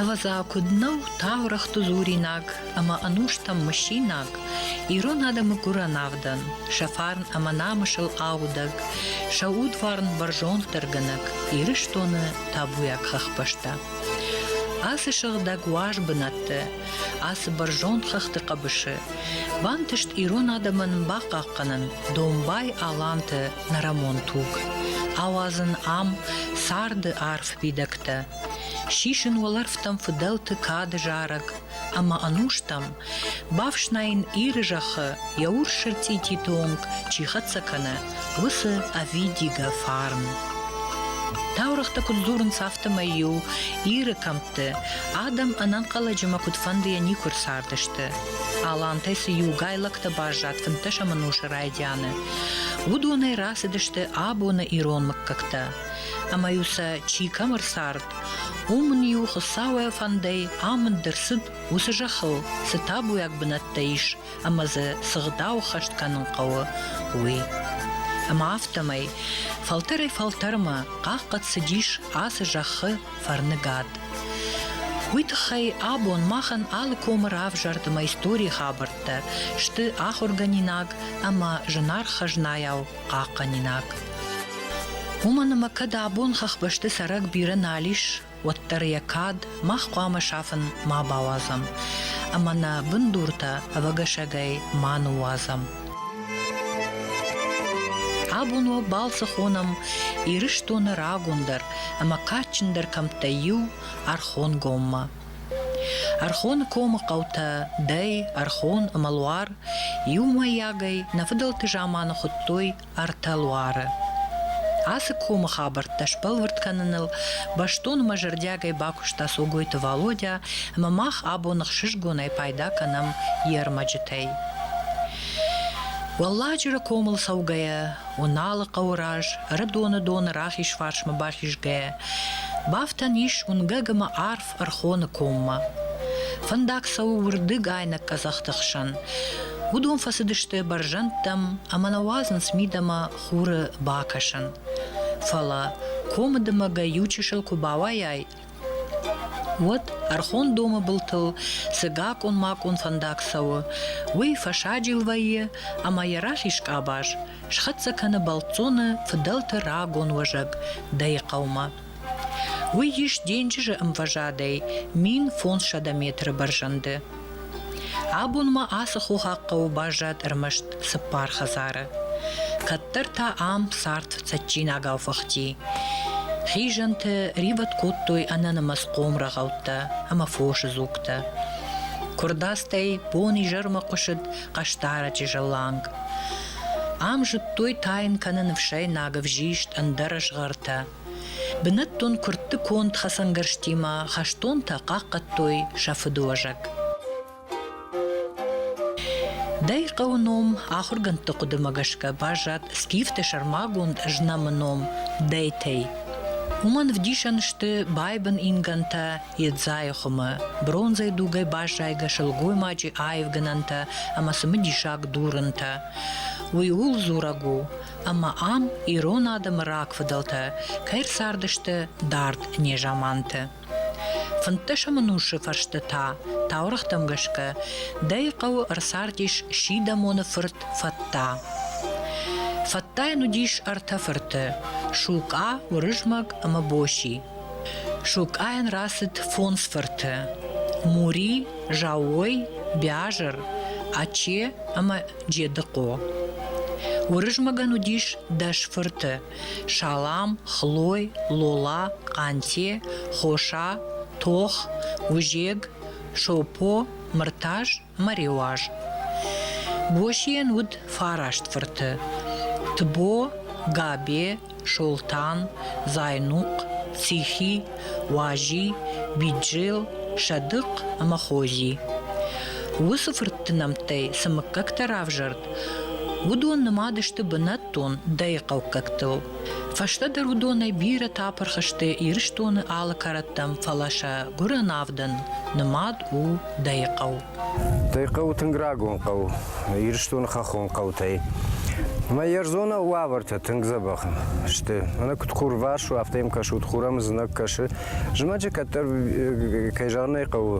Ӕвӕдза, куыд нӕу таурӕгъты дзуринаг ӕмӕ ӕнустӕм мысинаг ирон адӕмы гуырӕн авдӕн, сӕ фарн ӕмӕ намысыл аудӕг, сӕ удварн бӕрзонддӕргӕнӕг Ирыстоны табуйаг хӕхбӕстӕ. Ацы сыгъдӕг уаз бынӕтты, ацы бӕрзонд хӕхты хъӕбысы Бантыст ирон адӕмӕн бахъахъхъӕнын домбай аланты нӕрӕмон туг, ауадзын ам царды арф фидӕгтӕ, сисын уӕлӕрвтӕм фыдӕлты кады зарӕг ӕмӕ ӕнустӕм, бафснайын Иры зӕххы йӕ урс сырцъити-то онг чи хӕццӕ кӕны, уыцы ӕвидигӕ фарн. Таурӕгътӕ куыд дзурынц, афтӕмӕй-иу Иры кӕмтты адӕм ӕнӕнхъӕлӕджимӕ куыдфӕндыйӕ никуы рцардысты. Алантӕй цы иугай лӕгтӕ баззад фынддӕсӕмӕн усы райдианы, уыдонӕй рацыдысты абоны ирон мыггӕгтӕ. Ӕмӕ-иу сӕ чи кӕм ӕрцард, уым ын-иу Хуыцауӕй фӕндӕй амынд ӕрцыд уыцы зӕххыл, цы табуйаг бынӕттӕ ис, ӕмӕ дзы цы гъдау хӕст кӕнын хъӕуы, уый. Ӕмӕ афтӕмӕй фӕлтӕрӕй-фӕлтӕрмӕ хъахъхъӕд цыдис ацы зӕххы фӕрныгад. Уый тыххӕй абон махӕн алы комы равзӕрд ӕмӕ историйы хабӕрттӕ сты ахуыргӕнинаг ӕмӕ зынаргъ хӕзнайау хъахъхъӕнинаг. Уымӕн ӕмӕ кӕд абон хӕхбӕсты цӕрӕг бирӕ нал ис, уӕддӕр йӕ кад мах хъуамӕ сафын ма бауадзӕм ӕмӕ нӕ бындуртӕ ӕвӕгӕсӕгӕй ма ныууадзӕм. Абон уӕ балцы хонӕм Ирыстоны рагондӕр ӕмӕ кадджындӕр кӕмттӕй иу Ӕрхонгоммӕ. Ӕрхоны комы хъӕутӕ Дӕй, Ӕрхон ӕмӕ Луар иумӕйагӕй нӕ фыдӕлты заманы хуыдтой ӕртӕ луары. Ацы комы хабӕрттӕ сбӕлвырд кӕныныл бӕстонмӕ зӕрдиагӕй бакуыста Цогойты Валодя ӕмӕ мах абон ӕхсызгонӕй пайда кӕнӕм йе рмӕджытӕй. Уӕлладжыры комыл цӕугӕйӕ, Уыналы хъӕуы раз Ӕрыдоны доны рахиз фарсмӕ бахизгӕйӕ, бафтӕн ис уынгӕг ӕмӕ арф Ӕрхоны коммӕ. Фӕндаг цӕуы уырдыг айнӕг къӕдзӕхты хсӕн. Уыдон фӕцыдысты бӕрзӕндтӕм ӕмӕ нӕ уадзынц мидӕмӕ хуры бакӕсын. Фӕлӕ комы дымӕгӕй иу чысыл куы бауайай, уӕд ӕрхон домы былтыл цы гакъон-макъон фӕндаг цӕуы, уый фӕсаджил вӕййы ӕмӕ йӕ расис къабаз, схӕццӕ кӕны бӕлццоны фыдӕлты рагон уӕзӕг, дӕйы хъӕумӕ. Уый ис денджызы ӕмвӕзадӕй мин фондзсӕдӕ метры бӕрзӕнды. Абонмӕ ацы хохаг хъӕуы баззад ӕрмӕст цыппар хӕдзары. Кӕддӕр та ам цард цӕджджинагау фыхти. Хизӕнты ривӕд кодтой ӕнӕнымӕц хъомрӕгъӕуттӕ ӕмӕ фосы дзугтӕ. Куырдадзтӕй бон-изӕрмӕ хъуысыд хъӕстараджы зыланг. Ам зыдтой тайын кӕны ныфсӕйнаг ӕвзист ӕндӕр згъӕртӕ. Бынӕттон куыртты конд хӕцӕнгӕрзтимӕ хӕстонтӕ хъахъхъӕдтой сӕ фыдыуӕзӕг. Дӕ хъӕуы ном ахуыргӕндты хъуыдымӕ гӕсгӕ баззад скифты сӕрмагонд знӕмы ном Дӕйтӕй. Уымӕн вдисӕн сты байбын ингӕнтӕ Едзайы хуымы, бронзӕй дугӕй баззайгӕ сылгоймаджы аивгӕнӕнтӕ ӕмӕ цымыдисаг дурынтӕ. Уый ууыл дзурӕг у, ӕмӕ ам ирон адӕмы рагфыдӕлтӕ кӕй рцардысты дард незаманты. Фынддӕсӕм ӕнусы фӕрсты та, таурӕгътӕм гӕсгӕ, дӕй хъӕуы ӕрцардис Сидӕмоны фырт Фӕтта. Фӕттайӕн уыдис ӕртӕ фырты – Шукъа, Уырызмӕг ӕмӕ Боси. Шукъайӕн рацыд фондз фырты – Мури, Зауой, Бязыр, Аче ӕмӕ Джедыхъо. Уырызмӕгӕн уыдис дӕс фырты: Салам, Хлой, Лола, Къанте, Хоса, Тох, Узег, Шопо, Мыртаз мӕ Реуаз. Босийӕн уыд фараст фырты: Тбо, Габе, Солтан, Зайнухъ, Цихи, Уази, Биджел, Садыхъ ӕмӕ Хози. Уыцы фыртты нӕмттӕй цы мыггӕгтӕ равзӕрд, уыдон нымад сты бынӕттон дӕйыхъӕуккӕгтыл. Фӕстӕдӕр уыдонӕй бирӕтӕ апырх сты Ирыстоны алы кӕрӕттӕм, фӕлӕ сӕ гуырӕнавдӕн нымад у дӕйыхъӕу. Дӕ хъӕу тынг рагон хъӕу, Ирыстоны хӕххон хъӕутӕй. Мӕ ӕрдзон уавӕртӕ тынг дзӕбӕх сты. Мӕнӕ куыд хурварс у, афтӕ йӕм кӕсут, хур ӕм знаг кӕсы. Зымӕджы кӕддӕр, кӕй зӕгъын ӕй хъӕуы,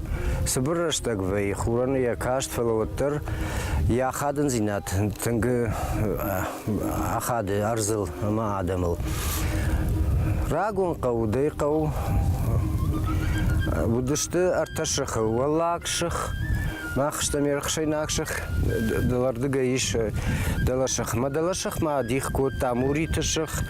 цыбыр рӕстӕг вӕййы, хурӕн йӕ каст, фӕлӕ уӕддӕр йӕ ахадындзинад тынг ахады ӕрдзыл ӕмӕ адӕмыл. Рагон хъӕу, дӕ хъӕу уыдысты ӕртӕ сыхы. Уӕллаг сых, мах стӕм ерхсайнаг сых, дӕлӕрдыгӕй ис дӕлӕсых. Мӕ дӕлӕсых ма дих кодта Муриты сых,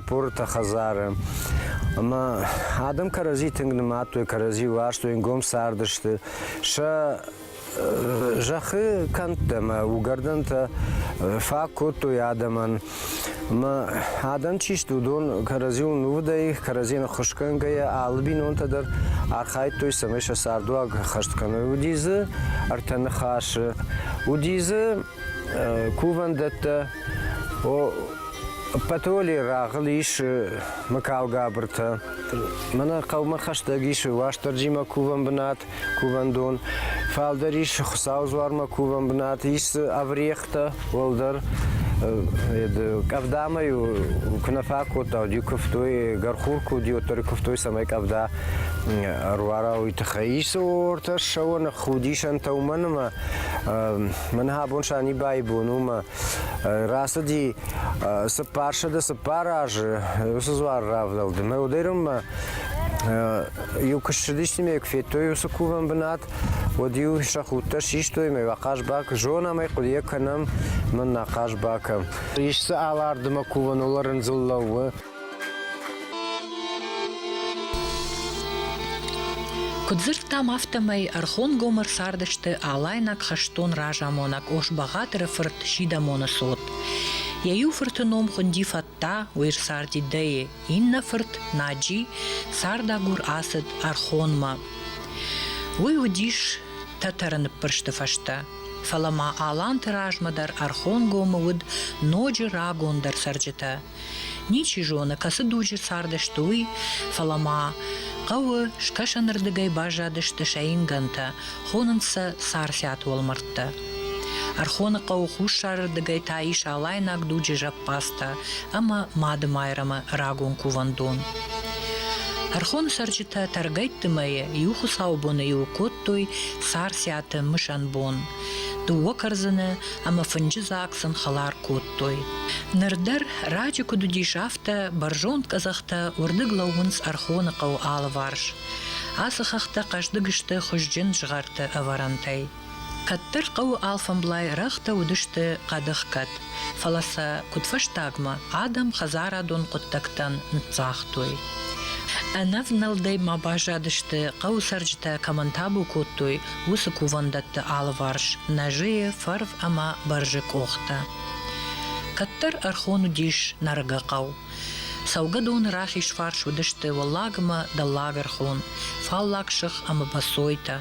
Порты хӕдзары. Ӕмӕ адӕм кӕрӕдзи тынг нымадтой, кӕрӕдзи уарзтой, ӕнгом цардысты. Сӕ зӕххы кӕндтӕ ӕмӕ угӕрдӕнтӕ фаг кодтой адӕмӕн. Ӕмӕ адӕм чи сты, уыдон кӕрӕдзиуыл нувыдӕй, кӕрӕдзийӕн ӕххуысгӕнгӕйӕ алы бинонтӕ дӕр архайдтой, цӕмӕй сӕ цардуаг хӕст кӕной. Уыди дзы ӕртӕ ныхасы, уыди дзы кувӕндӕттӕ. Патоли рагъыл ис мыкалгабыртӕ. Мӕнӕ хъӕумӕ хӕстӕг ис Уастырджимӕ кувӕн бынат, кувӕндон. Фалдӕр ис Хуыцау дзуармӕ кувӕн бынат, ис ӕврехтӕ уӕлдӕр. Къӕвдамӕ ю куы нӕ фӕкодта, уӕд ю куывтой, гӕрхур куы уыд, уӕддӕр ю куывтой, цӕмӕй къӕвда ӕруара, уый тыххӕй. Исы ортӕ ссӕуӕн худисӕнтӕ уымӕн ӕмӕ Мӕн абон Санибайы бон у мӕ рацыди цыппарсӕды цыппар азы уыцы дзуар равдӕлды мӕ уыдӕйронмӕ иу куы ссыдисты ме куы федтой уыцы кувӕн бынат уӕд-иу сӕ худтӕ систой мӕ ахъаз бак зонӕм ӕй хъуыдыйӕ кӕнӕм мӕн ахъаз бакӕм ис дзы алардымӕ кувӕн олӕрындзыл лӕууы Куыд дзырдтам, афтӕмӕй ӕрхонгомы ӕрцардысты алайнаг хӕстон разамонӕг Ошбагъатыры фырт Сидамоны цот. Йӕ иу фырты ном хуынди Фатта, уый ссарди Деи, иннӕ фырт Наджи цардагур ацыд Ӕрхонмӕ. Уый уыдис Тӕтӕры ныппырсты фӕстӕ. Фӕлӕ ма Аланты размӕ дӕр Ӕрхонгомы уыд ноджы рагондӕр цӕрджытӕ Ничи зоны, кӕцы дуджы цардысты уый, фӕлӕ ма хъӕуы скӕсӕнырдыгӕй баззадысты сӕ ингӕнтӕ, хонынц сӕ Царциаты уӕлмӕрдтӕ. Ӕрхоны хъӕуы хуссарырдыгӕй та ис алайнаг дуджы зӕппадзтӕ ӕмӕ Мадымайрӕмы рагон кувӕндон. Ӕрхоны цӕрджытӕ тӕргӕйтты мӕйы иу хуыцаубоны иу кодтой Царциаты мысӕн бон – Дыууӕ кӕрдзыны ӕмӕ фынджы дзаг сын хӕлар кодтой. Ныр дӕр раджы куыд уыдис, афтӕ бӕрзонд къӕдзӕхтӕ уырдыг лӕууынц Ӕрхоны хъӕуы алыварс. Ацы хӕхтӕ хъӕздыг сты хуызджын згъӕрты ӕвӕрӕнтӕй. Кӕддӕр хъӕуы алфӕмблай рӕгътӕ уыдысты хъӕдыхгӕд, фӕлӕ сӕ куыдфӕстагмӕ адӕм хӕдзарадон хъуыддӕгтӕн ныццагътой. Ӕнӕвнӕлдӕй ма баззадысты, хъӕуы цӕрджытӕ кӕмӕн табу кодтой, уыцы кувӕндӕтты алыварс нӕзыйы, фӕрв ӕмӕ бӕрзы къохтӕ. Кӕддӕр ӕрхон уыдис Нарыгы хъӕу. Цӕугӕдоны рахизфарс уыдысты Уӕллагмӕ дӕллагӕрхон, фаллаг сых ӕмӕ Бӕцойтӕ.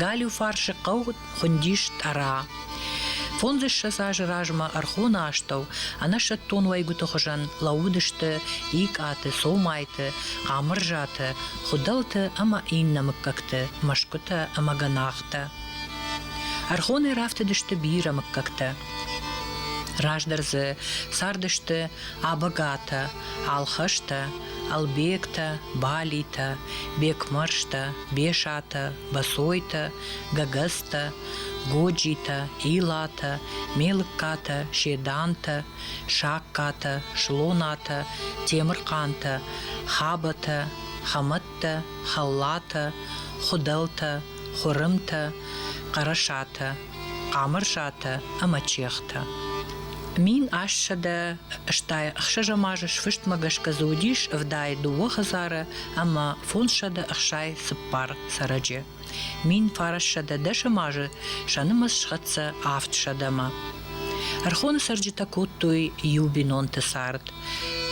Галиу фарсы хъӕу хуындис Тъӕра. Фондзыссӕдз азы размӕ ӕрхоны астӕу ӕнӕсӕттон уӕйгуыты хуызӕн лӕууыдысты Икъаты, Цомайты, Хъамырзаты, Хуыдӕлты ӕмӕ иннӕ мыггӕгты мӕсгуытӕ ӕмӕ гӕнахтӕ. Ӕрхонӕй рафтыдысты бирӕ мыггӕгтӕ. Раздӕр дзы цардысты Абагатӕ, Алхӕстӕ, Ӕлбегтӕ, Балитӕ, Бекмӕрзтӕ, Бесатӕ, Босойтӕ, Гӕгӕзтӕ, Годжитӕ, Илатӕ, Мелыккатӕ, Седантӕ, Сагкатӕ, Слонатӕ, Темырхъантӕ, Хабатӕ, Хӕмӕттӕ, Хӕллатӕ, Хуыдӕлтӕ, Хуырымтӕ, Хъӕрӕсатӕ, Хъамырзатӕ ӕмӕ Чехтӕ. Мин ассӕдӕ стӕй ӕхсӕзӕм азы сфыстмӕ гӕсгӕ дзы уыдис ӕвдайы дыууӕ хӕдзары ӕмӕ фондзсӕдӕ ӕхсӕй цыппар цӕрӕджы. Мин фарӕссӕдӕ дӕсӕм азы сӕ нымӕц схӕццӕ авдсӕдӕмӕ. Ӕрхоны цӕрджытӕ кодтой иу бинонты цард.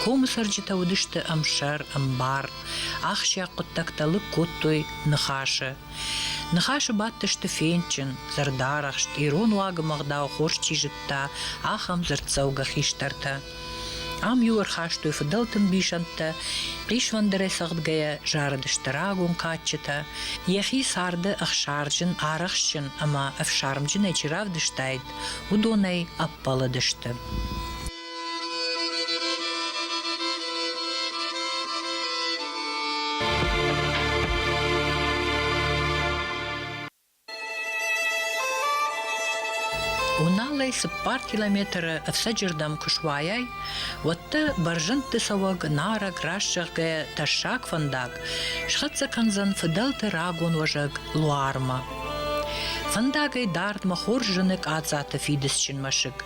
Комы цӕрджытӕ уыдысты ӕмсӕр, ӕмбар. Ахсджиаг хъуыддӕгтӕ лыг кодтой ныхасы. Ныхасы бадтысты фендджын, зӕрдӕрӕхст, ирон уагы мӕгъдау хорз чи зыдта, ахӕм дзырддзӕугӕ хистӕртӕ. Ам-иу ӕрхастой фыдӕлты мбисӕндтӕ, хъисвӕндырӕй цӕгъдгӕйӕ зарыдысты рагон кадджытӕ, йӕхи царды ӕхсарджын, арӕхстджын ӕмӕ ӕфсармджынӕй чи равдыстаид, уыдонӕй ӕппӕлыдысты. Уналӕй цыппар километры ӕфцӕджырдӕм куы суайай, уӕд дӕ бӕрзӕндты цӕуӕг нарӕг, раст зӕгъгӕ тӕссаг фӕндаг схӕццӕ кӕндзӕн фыдӕлты рагон уӕзӕг Луармӕ. Фӕндагӕй дардмӕ хорз зыны Къадзаты фидыцджын мӕсыг.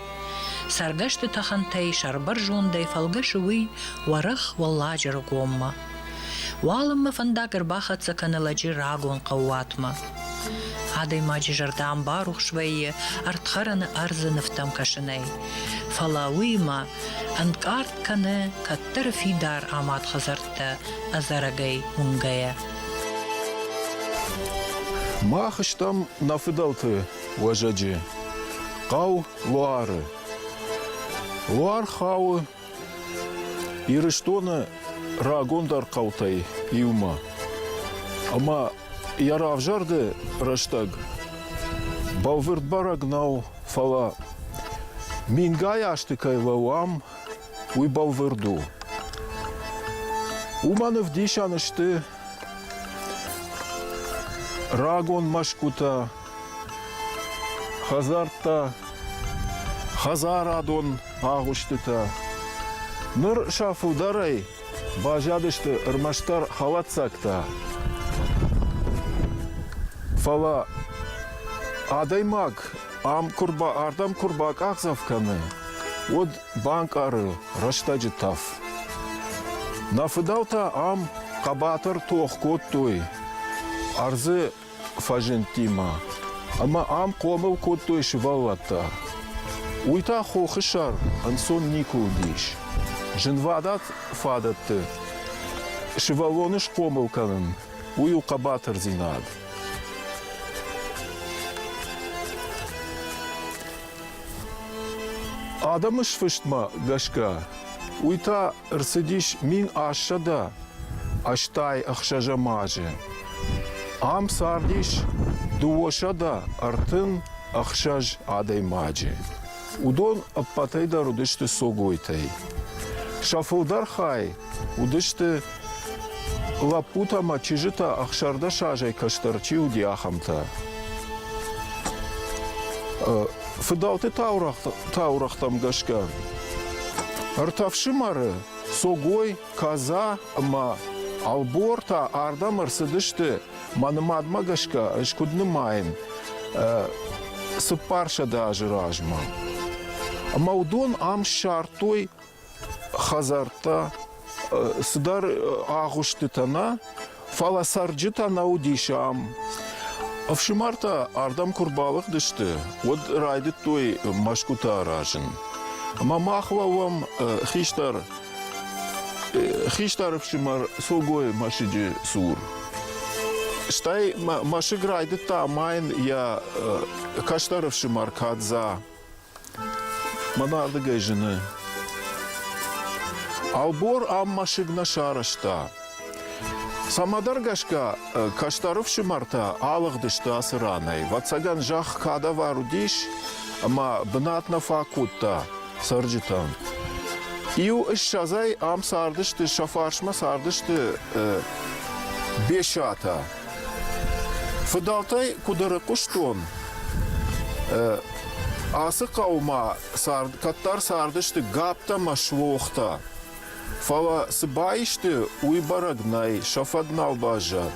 Цӕргӕсты тӕхӕнтӕй сӕрбӕрзондӕй фӕлгӕсы уый уӕрӕх Уӕлладжыры гоммӕ. Уалынмӕ фӕндаг ӕрбахӕццӕ кӕны лӕджы рагон хъӕууатмӕ. Адӕймаджы зӕрдӕ барухс вӕййы ӕрдхӕрӕны ӕрдзы нывтӕм кӕсынӕй. Фӕлӕ уыимӕ ӕнкъард кӕны кӕддӕры фидар амад хӕдзӕрттӕ ӕдзӕрӕгӕй уынгӕйӕ. Мах стӕм нӕ фыдӕлты уӕзӕджы хъӕу Луары. Луар хауы Ирыстоны рагондӕр хъӕутӕй иумӕ. Ӕмӕ йӕ равзӕрды рӕстӕг бӕлвырд бӕрӕг нӕу, фӕлӕ мингай азты кӕй лӕууӕм, уый бӕлвырд у. Уымӕн ӕвдисӕн сты рагон мӕсгуытӕ, Хӕдзӕрттӕ, хӕдзарадон агъуыстытӕ. Ныр сӕ фылдӕрӕй баззадысты ӕрмӕстдӕр хӕлӕццӕгтӕ. Фӕлӕ адӕймаг ам куы рба, ардӕм куы рбакъахдзӕф кӕны, уӕд банкъары рӕстӕджы тӕф. Нӕ фыдӕлтӕ ам хъӕбатыр тох кодтой ӕрдзы фӕзындтимӕ. Ӕмӕ ам хъомыл кодтой сывӕллӕттӕ. Уый та хохы сӕр ӕнцон никуы уыдис. Зынвадат фадӕтты сывӕллоны схъомыл кӕнын, уый у хъӕбатырдзинад. Адӕмы сфыстмӕ гӕсгӕ, уый та ӕрцыдис мин ассӕдӕ ӕстай ӕхсӕзӕм азы. Ам цардис дыууӕсӕдӕ ӕртын ӕхсӕз адӕймаджы. Уыдон ӕппӕтӕй дӕр уыдысты согойтӕй. Сӕ фылдӕр хай уыдысты Лӕппутӕ ӕмӕ чызджытӕ ӕхсӕрдӕс азӕй кӕстӕр чи уыди, ахӕмтӕ. Фыдӕлты таурӕгътӕм гӕсгӕ ӕртӕ фсымӕры Согой, Каза ӕмӕ Албор та ардӕм ӕрцыдысты. Мӕ нымадмӕ гӕсгӕ ӕз куыд нымайын цыппарсӕдӕ азы размӕ. Ӕмӕ уыдон ам ссардтой хӕдзӕрттӕ цыдӕр агъуыстытӕ нӕ фӕлӕ цӕрджытӕ нӕ уыдис ам ӕфсымӕртӕ ардӕм куы рбалыгъдысты уӕд райдыдтой мӕсгуытӕ аразын ӕмӕ мах лӕууӕм хистӕр хистӕр ӕфсымӕр согойы мӕсыджы цур стӕй мӕсыг райдыдта амайын йӕ кӕстӕр ӕфсымӕр кадза Мӕн ардыгӕй зыны. Ӕлбор ам мӕсыг нӕ сарӕзта. Цӕмӕдӕр гӕсгӕ кӕстӕр ӕфсымӕртӕ алыгъдысты ацы ранӕй. Ӕвӕццӕгӕн, зӕхх кадавар уыдис, ӕмӕ бынат нӕ фӕкодта цӕрджытӕн. Иу ссӕдзӕй ам цардысты, сӕ фарсмӕ цардысты Бесатӕ. Фыдӕлтӕй куыд ӕрыхъуыстон, ацы хъӕумӕ цард, кӕддӕр цардысты гӕпптӕ мӕ суохтӕ. Фӕлӕ цы баисты, уый бӕрӕг нӕй, сӕ фӕд нал баззад.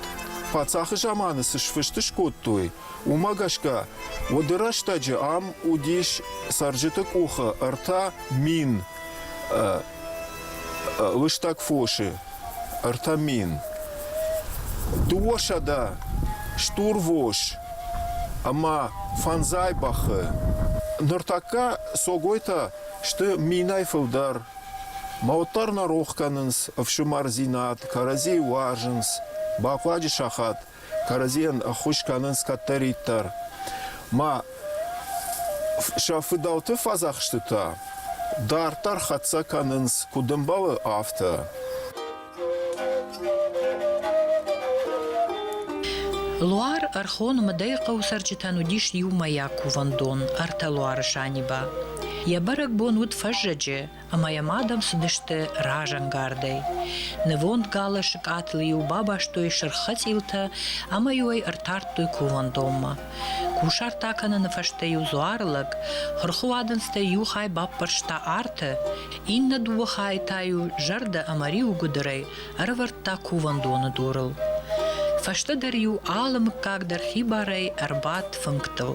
Паддзахы заманы цы сфыст скодтой, уымӕ гӕсгӕ уыды рӕстӕджы ам уыдис цӕрджыты къухы ӕртӕ мин лыстӕг фосы ӕртӕ мин дыууӕсӕдӕ стурвос ӕмӕ фӕндзай бӕхы ныртӕккӕ согойтӕ сты минӕй фылдӕр мӕ уӕддӕр нӕ рох кӕнынц ӕфсымӕр зинат кӕрӕдзийы уарзынц бахъуаджы сахат кӕрӕдзийӕн ӕххуыс кӕнынц кӕддӕриддӕр. Ма сӕ фыдӕлты фӕдзӕхстытӕ дарддӕр хӕццӕ кӕнынц куыд ӕмбӕлы, афтӕ. Луар Ӕрхоны мыдӕй хъӕуы цӕрджытӕн уыдис иумӕйаг кувӕндон, ӕртӕ луары Саниба. Йӕ бӕрӕгбон уыд фӕззӕджы, ӕмӕ йӕм адӕм цыдысты разӕнгардӕй. Нывонд галы-сы къӕтыл-иу бабастой сырх хӕцъилтӕ ӕмӕ-иу ӕй ӕртардтой кувӕндонмӕ. Кусарт акӕныны фӕстӕ-иу дзуары лӕг хырхуадындзтӕй иу хай баппӕрста арты, иннӕ дыууӕ хайы та-иу зӕрдӕ ӕмӕ риуы гуыдырӕй ӕрӕвӕрдта кувӕндоны дурыл. Фӕстӕдӕр-иу алы мыггаг дӕр хибарӕй ӕрбадт фынгтыл.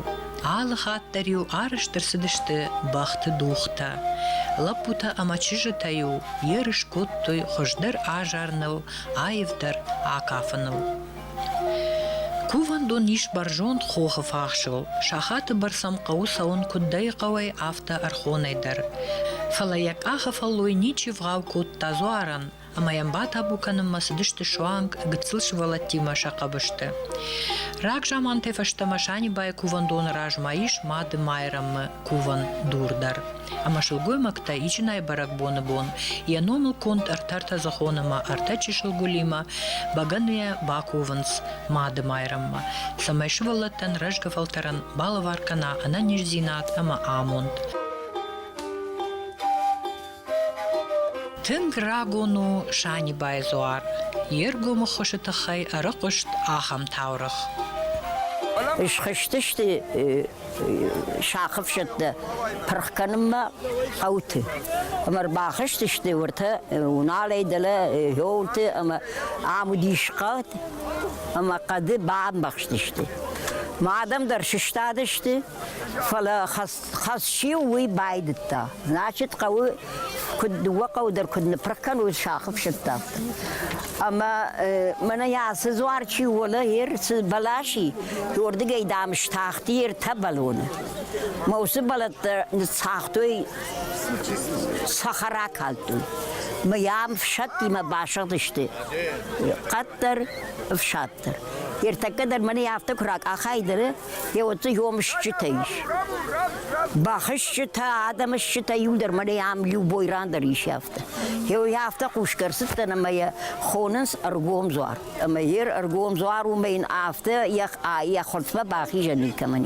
Алы хатт дӕр-иу арӕзт ӕрцыдысты бӕхты дугътӕ. Лӕппутӕ ӕмӕ чызджытӕ-иу ерыс кодтой хуыздӕр азарыныл, аивдӕр акафыныл. Кувӕндон ис бӕрзонд хохы фахсыл. Сахаты бӕрц ӕм хъӕуы цӕуын куыд дӕй хъӕуӕй, афтӕ ӕрхонӕй дӕр. Фӕлӕ йӕ къахы фӕллой ничи вгъау кодта дзуарӕн. ӕмӕ йӕм батабу кӕнынмӕ цыдысты суанг гыццыл сывӕллӕттимӕ сӕ хъӕбысты. Рагзамантӕй фӕстӕмӕ Санибайы кувӕндоны размӕ ис Мады Майрӕмы кувӕн дур дӕр. Ӕмӕ сылгоймӕгтӕ ичынӕй бӕрӕгбоны бон йӕ номыл конд ӕртӕ ӕртӕдзӕхон ӕмӕ ӕртӕ чысыл гуылимӕ бӕгӕныйӕ бакувынц Мады Майрӕммӕ, цӕмӕй сывӕллӕттӕн рӕзгӕ фӕлтӕрӕн балӕвар кӕна ӕнӕниздзинад ӕмӕ амонд. Тынг рагон у Санибайы дзуар, йе ргомы хуысы тыххӕй ӕрыхъуыст ахӕм таурӕгъ. Схызтысты сӕхъыфсӕттӕ пырх кӕнынмӕ хъӕуты ӕмӕ ӕрбахызтысты уыртӕ Уналӕй дӕлӕ Йолты ӕмӕ ам уыдис хъӕд ӕмӕ хъӕды бамбӕхстысты. Ма адӕм дӕр сыстадысты, фӕлӕ хӕц Хӕс-иу уый байдыдта. Значит, хъӕуы куыд дыууӕ хъӕуы дӕр куыд ныпрыг кӕной сахы фсӕдты, афтӕ. Ӕмӕ мӕнӕ йӕ ацы дзуар чи уоны, йе рцы бӕлас и, уырдыгӕй, дам, стахти йе ртӕ бӕлоны. Мӕ уыцы бӕлӕттӕ ныццагътой, цӕхӕра калдтой. Мӕ йӕм фсӕдтимӕ басыгъдысты къаддӕр ӕфсад. директор. Ертӕккӕ дӕр мӕнӕ афтӕ куы ракъахайд ӕры, йӕ уыцы ёмысджытӕ ис. Бахызджытӕ, адӕмысджытӕ иу дӕр мӕнӕ ам иу бойран дӕр ис афтӕ. Йӕ афтӕ хъусгӕ ӕрцыдтӕн ӕмӕ йӕ хонынц ӕргом дзуар. Ӕмӕ йе рӕргом дзуар уымӕ йын афтӕ йӕ, йӕ хъуыртмӕ бахизӕн никӕмӕн.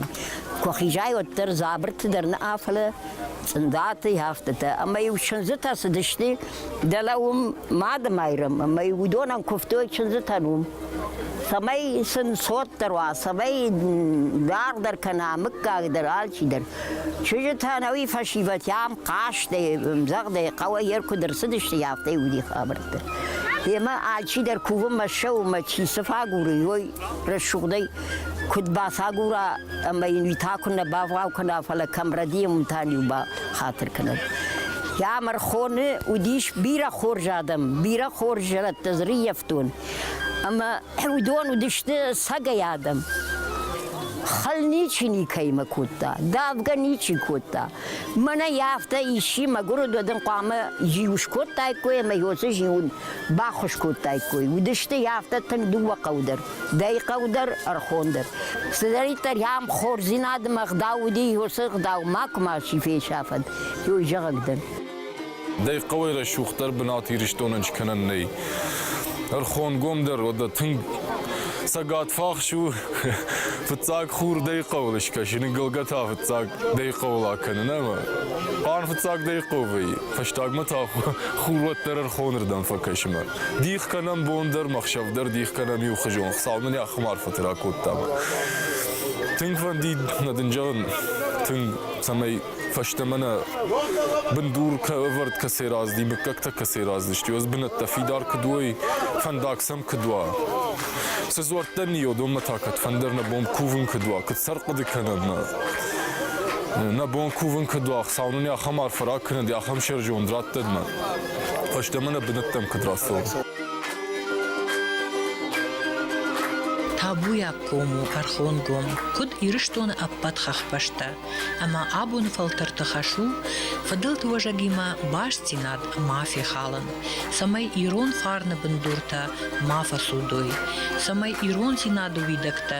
Куы хизай, уӕддӕр дзабырты дӕр нӕ афӕлы, цъындатӕй, афтӕтӕ. Ӕмӕ-иу чындзытӕ цыдысты, Дӕлӕ уым Мадымайрӕм ӕмӕ уыдонӕн куывтой чындзытӕн уым, цӕмӕй сын цотдӕр уа, цӕмӕй даргъдӕр кӕна, мыггагдӕр, алчидӕр. Чызджытӕн ӕви фӕсивӕдтӕм хъазтӕй, ӕмдзӕгъдӕй, хъӕуӕй йӕ куыд ӕрцыдысты, афтӕ уыди хабӕрттӕ. Йемӕ алчидӕр кувынмӕ ссӕуынмӕ чи цы фӕгуры, уой Рӕсугъдӕй куд бацагура ӕма ин уитӕ куннӕ бавгъау кӕна, фалӕ кӕмрӕди еумтӕн-еу ба хатир кӕнӕн. Ямархоны уыдис бирӕ хорз адӕм, бирӕ хорз зӕрӕдтӕ зриййӕфтон, ӕмӕ уыдон уыдысты сӕгӕй адӕм. Хал ничи никӕимӕ кодта, давгӕ ничи кодта. Мӕнӕ афтӕ исчи мӕгуыр уыд, уӕд ын хъуамӕ зиу скодтаиккой ӕмӕ йоцы зиун баххуыс кодтаиккой. Уыдысты йӕ афтӕ тынг дыууӕ хъӕу дӕр, дӕй хъӕу дӕр, ӕрхон дӕр. Цыдӕриддӕр йӕм хорздзинадмӕ ӕгъдау уыди, уыцы ӕгъдау макуы мачи фесафӕд, йой зӕгъӕг дӕр. Дӕй хъӕуӕй рӕсугъддӕр бынат Ирыстонӕн скӕнӕн нӕй. Ӕрхонгом дӕр уӕдӕ тынг цӕгатфахс у, фыццаг хур дӕй хъӕуыл скӕсыны гылгӕ та фыццаг дӕй хъӕуыл акӕнын ӕмӕ хъарм фыццаг дӕй хъӕу вӕййы. Фӕстагмӕ та хур уӕддӕр ӕрхонырдӕм фӕкӕсы мӕ дих кӕнӕм бон дӕр, мӕхсӕв дӕр дих кӕнӕм иухуызон, Хуыцау нын йӕ хуымарфӕты ракодта мӕ тынг фӕнди нӕ дын зӕгъын, тынг, цӕмӕй фӕстӕмӕ нӕ бындур ӕвӕрд кӕцӕй разыди, мыггӕгтӕ кӕцӕй разыдысты, ӕз бынӕттӕ фидар куыд уой, фӕндаг сӕм куыд уа. Цы дзуӕрттӕ ниодонмӕ та кӕд фӕндыр нӕ бон кувын куыд уа, куыд сӕрхъуыды кӕнӕм мӕ Нӕ бон кувын кӕд уа, Хуыцау нын ахӕм арф фӕраг кӕнӕд, ахӕм сӕрджон раттӕдмӕ. Фӕстӕмӕ нӕ бынӕттӕм кӕд рацӕуӕм. Табуйаг ком у ӕрхонгом куыд Ирыстоны ӕппӕт хӕхбӕстӕ, ӕмӕ абоны фӕлтӕрты хӕс у фыдӕлты уӕзӕгимӕ бастдзинад ма фехалын, цӕмӕй ирон фарны бындуртӕ ма фӕцудой, цӕмӕй ирон дзинады уидӕгтӕ